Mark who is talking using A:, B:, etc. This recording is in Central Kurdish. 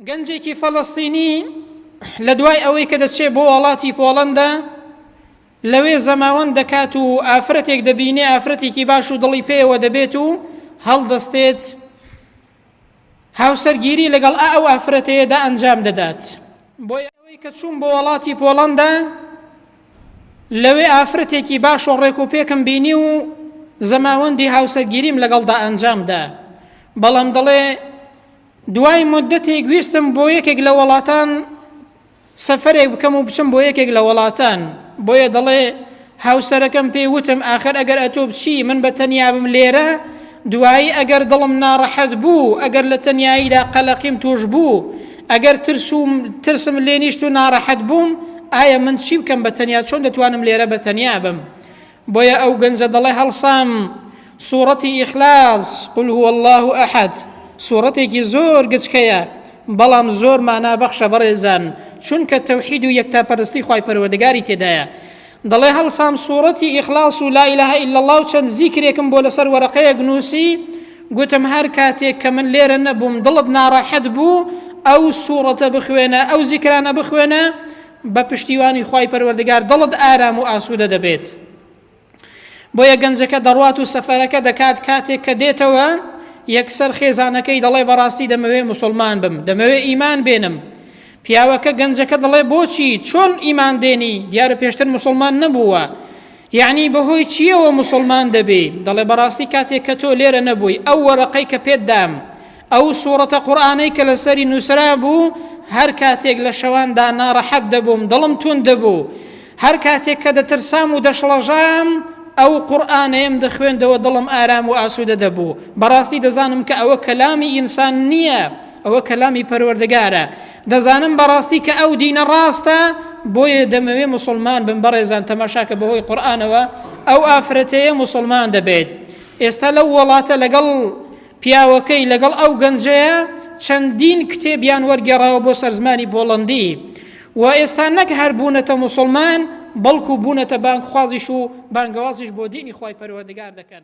A: گەنجێکی فەڵەستینی لە دوای ئەوەی کە دەچێت بۆ وڵاتی پۆڵەندا لەوێ زەماوەند دەکات و ئافرەتێک دەبینێ ئافرەتێکی باش و دڵی پێوە دەبێت و هەڵدەستێت هاوسەرگیری لەگەڵ ئا ئەو ئافرەتەیەدا ئەنجام دەدات بۆیە ئەوەی کە چووم بۆ وەڵاتی پۆڵەندا لەوێ ئافرەتێکی باش و ڕێک و پێکم بینی و زەماوەندی هاوسەرگیریم لەگەڵدا ئەنجامدا بەڵام دەڵێ دوای مدەتێک ویستم بۆ یەکێک لە وڵاتان سەفەرێک بکەم و بچم بۆ یەکێک لە وەڵاتان، بۆیە دەڵێ، هاوسەرەکەم پێی وتم ئاخر ئەگەر ئەتۆ بچی من بە تەنیا بم لێرە، دوایی ئەگەر دڵم ناڕەحەت بوو، ئەگەر لە تەنیاییدا قەلەقیم تووش بوو، ئەگەر ترس و ترسم لێ نیشت و ناڕەحەت بووم، ئایا من چی بکەم بە تەنیا، چۆن دەتوانم لێرە بە تەنیا بم؟ بۆیە ئەو گەنجە دەڵێ هەڵسام سوڕەتی ئیخلاس قل هو الله ئەحەد سوڕەتێکی زۆر گچکەیە بەڵام زۆر مانا بەخشە بەڕێزان چونکە تەوحید و یەکتاپەرستی خی پەروەردگاری تێدایە دەڵێ هەڵسام سوڕەتی ئیخلاس و لا إله إلا الله و چەند زیکرێکم بۆ لەسەر وەرەقەیەک نووسی گوتم هەر کاتێک کە من لێرە نەبووم دڵت ناڕەحەت بوو ئەو سوڕەتە بخوێنە ئەو زیکرانە بخوێنە بە پشتیوانی خوای پەروەردگار دڵت ئارام و ئاسوودە دەبێت بۆیە گەنجەکە دەڕوات و سەفەرەکە دەکات کاتێک کە دێتەوە یەکسەر خێزانەکەی دەڵێ بەڕاستی دەمەوێ مسلمان بم دەمەوێ ئیمان بێنم پیاوەکە گەنجەکە دەڵێ بۆچی چۆن ئیمان دێنی دیارە پێشتر مسلمان نەبووە یعنی بەهۆی چیەوە مسلمان دەبێ دەڵێ بەڕاستی کاتێک کە تۆ لێرە نەبووی ئەو وەرەقەی کە پێت دام ئەو سوڕەتە قورئانەی کە لەسەری نووسرابوو، هەر کاتێک لە شەواندا ناڕەحەت دەبووم، دڵم توند دەبوو، هەر کاتێک کە دەترسام و دەشڵەژام، ئەو قورئانەیەم دەخوێندەوە دڵم ئارام و ئاسوودە دەبوو، بەڕاستی دەزانم کە ئەوە کەلامی ئینسان نییە، ئەوە کەلامی پەروەردگارە، دەزانم بەڕاستی کە ئەو دینە ڕاستە، بۆیە دەمەوێ موسڵمان بم، بەڕێزان تەماشاکە بەهۆی قورئانەوە ئەو ئافرەتەیە موسڵمان دەبێت، ئێستا لەو وڵاتە لەگەڵ پیاوەکەی لەگەڵ ئەو گەنجەیە چەندین کتێبیان وەرگێڕاوە بۆ سەر زمانی پۆڵەندی و ئێستا نەک هەر بوونەتە موسڵمان بەڵکو بوونەتە بانگخوازیش و بانگەوازیش بۆ دینی خوای پەروەردگار دەکەن.